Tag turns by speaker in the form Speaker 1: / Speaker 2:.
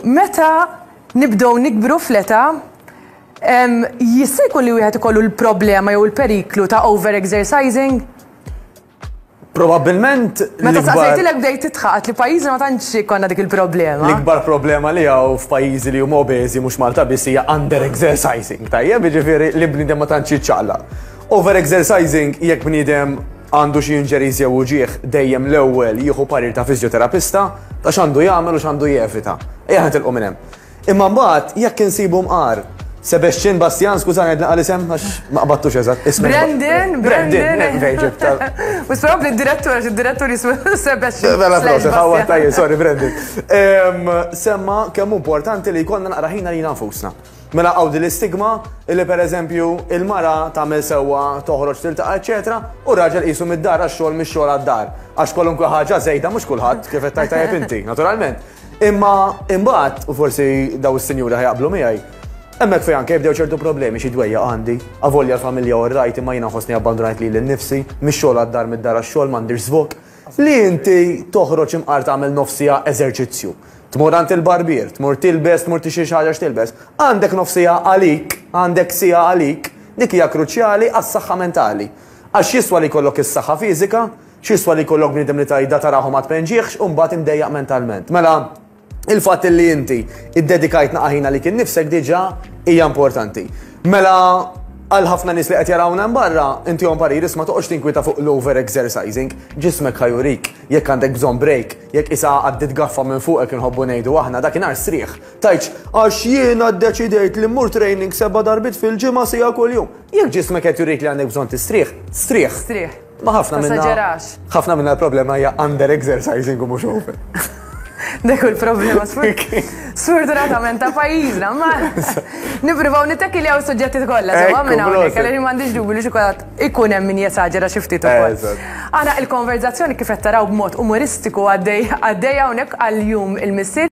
Speaker 1: Meta nibdew nikbru fl-età, jista' jkun li wieħed ikollu l-problema jew il-periklu ta' over-exercising?
Speaker 2: Probabilment. Meta saqsejtilek
Speaker 1: bdejt titħaqat li pajjiżna ma tantx konna dik il-problema. L-ikbar problema li
Speaker 2: hawn f'pajjiżi li huma obeżi mhux Malta biss hija under exercising, tajjeb, jiġifieri li bniedem ma tantx jiċċaqla. Over exercising jekk bniedem Għandu xi injuries jew uġigħ, dejjem l-ewwel jieħu parir ta' fiżjoterapista ta' x'għandu jagħmel u x'għandu jevita. Ejja nitilqu minn hemm. Imma mbagħad jekk insibu mqar, Sebastian, Bastjan, skużani qed naqal isem għax ma qbadtux eżatt ismu. Brandon,
Speaker 1: Brandon.
Speaker 2: U s li
Speaker 1: d-direttur għax id-direttur jismu Sebastian. Mela proset, ħawwa
Speaker 2: tajjeb, sorry Brandon. Semma kemm importanti li jkollna naqra ħina li nafusna. Mela hawn din l-istigma illi pereżempju il-mara tagħmel sewwa toħroġ tiltaqa' eċetera u r-raġel qisu mid-dar għax-xogħol mix-xogħol għad-dar. Għax kwalunkwe ħaġa żejda mhux kulħadd kif qed tgħid tajjeb inti, naturalment. Imma imbagħad, u forsi daw is-sinjuri ħajaqblu miegħi, hemmhekk fejn anke jibdew ċertu problemi xi dwejjaq għandi, avolja l-familja u r-rajt imma jiena nħossni abbandunajt lili nnifsi, mix-xogħol għad-dar mid-dar għax-xogħol m'għandix żvok, li inti toħroġ imqar tagħmel nofs siegħa eżerċizzju. Tmur għand il-barbier, tmur tilbes, tmur tixtri xi ħaġa x'tilbes. Għandek nofsija għalik, għandek sija għalik, dik hija kruċjali għas-saħħa mentali. Għax x'jiswa li jkollok is-saħħa fiżika, x'jiswa li jkollok bniedem li tgħidha tarahu ma tpenġihx u mbagħad imdejjaq mentalment. Mela, il-fatt li inti iddedikajt naqaħina li kien nifsek diġà hija importanti. Mela, għal ħafna nis li qed jarawna barra, inti għom parir isma toqgħodx tinkwita fuq l-over exercising, ġismek ħajurik. Jekk għandek bżonn brejk, jekk qisha għaddiet gaffa minn fuqek inħobbu ngħidu aħna, dakinhar strieħ, tgħidx, Għax jiena ddeċidejt li mmur training seba' darbiet fil-ġimgħa siegħa kuljum. Jekk ġismek qed jurik li għandek bżonn tistrieħ, strieħ. Strieħ. Ma ħafna minna. Tasaġerax. Ħafna minna l-problema hija under exercising u mhux over. Dak
Speaker 1: il-problema sfortunatament ta' pajjiżna, ma nippruvaw nittekki li hawn suġġetti kollha, sewa minn hawnhekk, għalli m'għandix dubi li xi kulħadd ikun hemm min jesaġera xi ftit ukoll. Eżatt. Aħna il-konverżazzjoni kif qed taraw b'mod umoristiku għaddej għaddejja hawnhekk għal jum il-Missier.